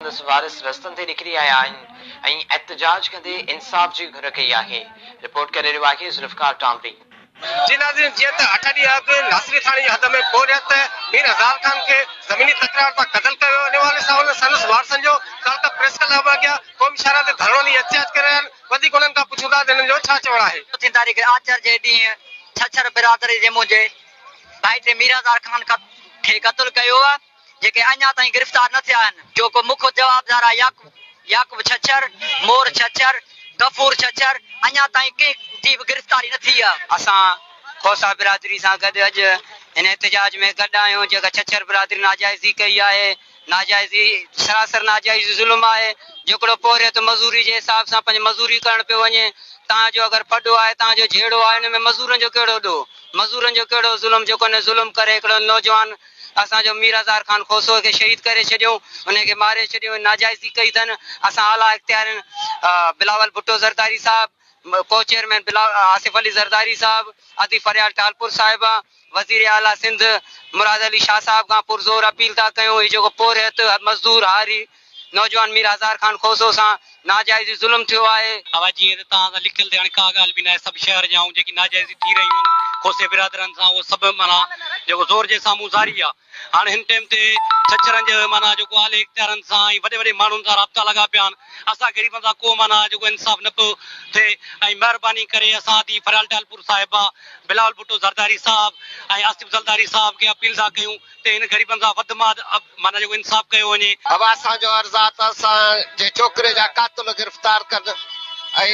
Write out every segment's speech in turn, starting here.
سندس وارث رستن تي نڪري آيا آهن ۽ احتجاج ڪندي انصاف جي گهر ڪئي آهي. رپورٽ ڪري رهيو آهي ذوالفقار ٽامري. جي ناظرين جيئن ته اٺ ڏينهن اڳ ناصري ٿاڻي جي حد ۾ پورهيت مير هزار خان کي زميني تڪرار تان قتل ڪيو ويو انهي حوالي سان سندس وارثن جو ڪالڪا پريس ڪلب اڳيان قومي شاهراهه تي ڌرڻو ڏئي احتجاج ڪري رهيا آهن وڌيڪ انهن کان پڇون ٿا ته انهن جو ڇا چوڻ آهي. چوٿين تاريخ آچر جي ڏينهن ڇڇر برادري جي منهنجي ڀائٽي مير هزار خان کي قتل ڪيو ويو. جيڪي اڃا تائين گرفتار نه ٿيا آهن، جو ڪو مک جوابدار آهي يعقوب يعقوب ڇڇر، مور ڇڇر، غفور ڇڇر اڃا تائين ڪنهن جي به گرفتاري نه ٿي آهي. اسان کوسا برادري سان گڏ اڄ هن احتجاج ۾ گڏ آهيون جيڪا ڇڇر برادري ناجائزي ڪئي آهي، ناجائزي سراسر ناجائزي ظلم آهي، جيڪڙو پورهيت مزوري جي حساب سان پنهنجي مزوري ڪرڻ پيو وڃي، تان جو اگر پڏو آهي تان جو جهيڙو آهي ان ۾ مزورن جو ڪهڙو ڏوهه، مزورن جو ڪهڙو ظلم جيڪو ان ظلم ڪري هڪڙو نوجوان اسان جو مير هزار خان کوسو کي شهيد ڪري ڇڏيو، انهيء کي ماري ڇڏيو ۽ ناجائزي ڪئي اٿن. اسان اعليٰ اختيارين بلاول ڀٽو زرداري صاحب، ڪو چيئرمين آصف علي زرداري صاحب، ادي فريال ٽالپر صاحبه، وزير اعليٰ سنڌ مراد علي شاهه صاحب کان پرزور اپيل ٿا ڪيون هي جيڪو پورهيت، مزدور، هاري، نوجوان مير هزار خان کوسو سان ناجائزي ظلم ٿيو آهي. اها جيئن ته توهان سان لکيل ته هاڻي ڪا ڳالهه به ناهي سڀ شهر جا ۽ جيڪي ناجائزيون ٿي رهيون آهن کوسي برادرن سان اهو سڀ معنيٰ جيڪو زور جي سامهون زاري آهي هاڻي هن ٽيم تي ڇڇرن جي معنيٰ جيڪو اعلي اختيارن سان ۽ وڏي وڏي ماڻهن سان رابطا لڳا پيا آهن اسان غريبن سان ڪو معنيٰ جيڪو انصاف نه پيو ٿئي ۽ مهرباني ڪري اسان ڌيء فريال ٽالپور صاحبه بلاول ڀٽو زرداري صاحب ۽ آصف زلداري صاحب کي اپيل ٿا ڪيون تي هن غريبن سان وڌ ماڌ معنيٰ جيڪو انصاف ڪيو وڃي. اهو اسان جو عرض آ ته اسان جي ڇوڪري جا قاتل گرفتار ڪن ۽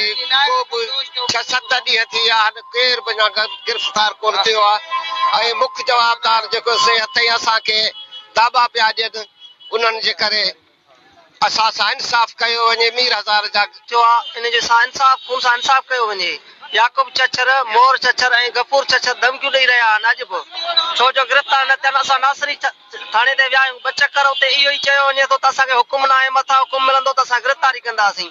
ڪو به ڇهه ست ڏينهن ٿي ويا آهن ڪير به اڃا گرفتار ڪونه ٿيو آ ۽ مک جوابدار جيڪو سي هتي اسان کي داٻا پيا ڏين انهن جي ڪري اسان سان انصاف ڪيو وڃي، مير هزار جا. ٿيو آ، ان جي سان انصاف مون سان انصاف ڪيو وڃي. يعقوب چڇر، مور چڇر ۽ غفور چڇر ڌمڪيون ڏئي رهيا آهن اڄ به. ڇو جو گرفتار نه ٿين، اسان ناصري ٿاڻي تائين ويا آهيون، ٻه چڪر اتي اهو ئي چيو وڃي ٿو ته اسان کي حڪم ناهي، مٿان حڪم ملندو ته اسان گرفتاري ڪنداسين.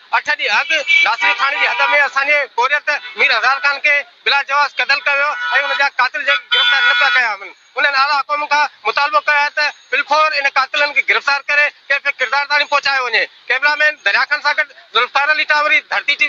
اٺ ڏينهن اڳ ناصري ٿاڻي جي حد ۾ اسان جي پورهيت مير هزار خان کي بلا جواز قتل ڪيو ويو ۽ ان جا قاتل جيڪي گرفتار نه پيا ڪيا وڃن انهن اعليٰ حڪام کان مطالبو ڪيو آهي ته بالفور ان قاتلن کي گرفتار ڪري ڪيف ڪردار تائڻي پهچايو وڃي ڪئميرا مين دريا خان سان گڏ ذوالفقار علي ٽاوري ڌرتي ٽي وي.